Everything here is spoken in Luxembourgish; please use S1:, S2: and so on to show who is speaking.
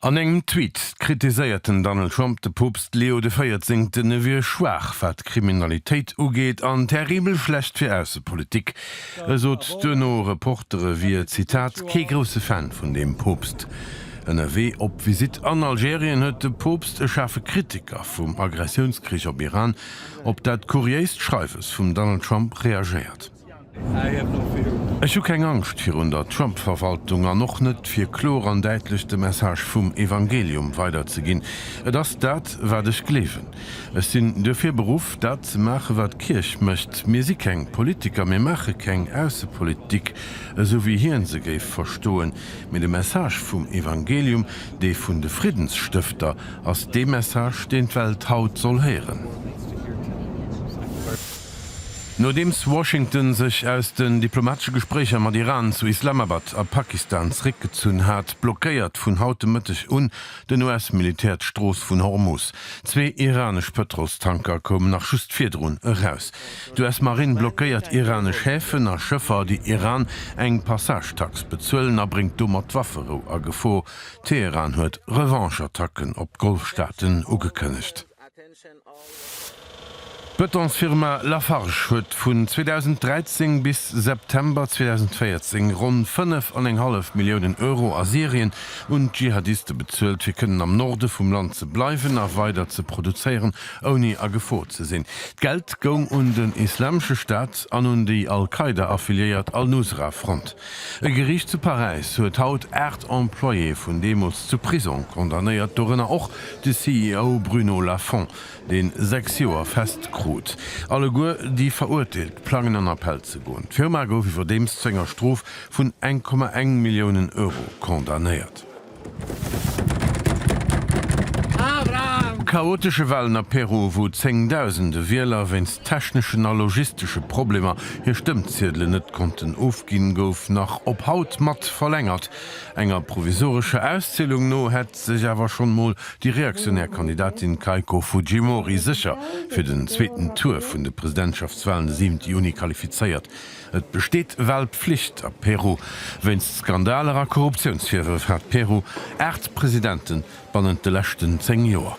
S1: An engem Tweet kritiséiert den Donald Trump de Poopst Leo de Véierzehnten, e wier schwaach wat d'Kriminalitéit ugeet an terribel schlecht fir Aussepolitik. E sot duerno Reportere e wier, Zitat, kee grousse Fan vun deem Poopst. Ënnerwee op Visitt an Algerien huet de Poopst e schaarfe Kritiker vum Aggressiounskrich op Iran op dat kuriéist Schreiwes vum Donald Trump reagéiert. Ech hu keng Angscht virun der Trump-Verwaltung an och net, fir klor an däitlech de Message vum Evangelium weiderzeginn. Et ass dat, wat ech gleewen. Ech sinn duerfir beruff, dat ze maachen, wat d'Kierch mécht. Mir si keng Politiker, mir maache keng Aussepolitik, esou wéi hien se géif verstoen. Mee de Message vum Evangelium, dee vun de Friddenstëfter, ass dee Message, deen d'Welt haut soll héieren. Nodeems Washington sech aus den diplomatesche Gespréicher mat Iran zu Islamabad a Pakistan zeréckgezunn hat, blockéiert vun haut de Mëtteg un den US-Militär d'Strooss vun Hormus. Zwee iranesch Pëtrolstanker koumen nach just virdrun eraus. D'US-Marinn blockéiert iranesch Häfen a Schëffer, déi Iran eng Passagetax bezuelen a bréngt domat d'Wafferou a Gefor. Teheran huet Revanche-Attacken op d'Golfstaaten ugekënnegt. D'Betonsfirma Lafarge huet vun 2013 bis September 2014 ronn 5 an eng hallef Milliounen Euro a Syrien un d'Dschihadiste bezuelt, fir kënnen am Norde vum Land ze bleiwen a weider ze produzéieren, ouni a Gefor ze sinn. D'Geld goung un den Islamesche Staat an un déi Al-Qaida-affiliéiert Al-Nusra-Front. E Geriicht zu Paräis huet haut 8 Employéë vun deemools zu Prisong condamnéiert, dorënner och de CEO Bruno Lafont, deen 6 Joer fest krut. Alleguer déi Verurteelt plangen an Appell ze goen. D'Firma gouf iwwerdeems zu enger Strof vun 1,1 Milliounen Euro condamnéiert. Chaotesche Walen a Peru, wou zéngdausende Wieler wéinst techneschen a logistesche Problemer hir Stëmmziedelen net konnten ofginn, gouf nach op haut mat verlängert. Enger provisorescher Auszielung no hätt sech awer schonn mol déi reaktionär Kandidatin Keiko Fujimori sécher fir den zweeten Tour vun de Presidentschaftswalen de 7 Juni qualifizéiert. Et besteet ewell Pflicht a Peru. Wéinst Skandaler a Korruptiounsvirwërf hat Peru 8 Presidenten bannent de leschten 10 Joer.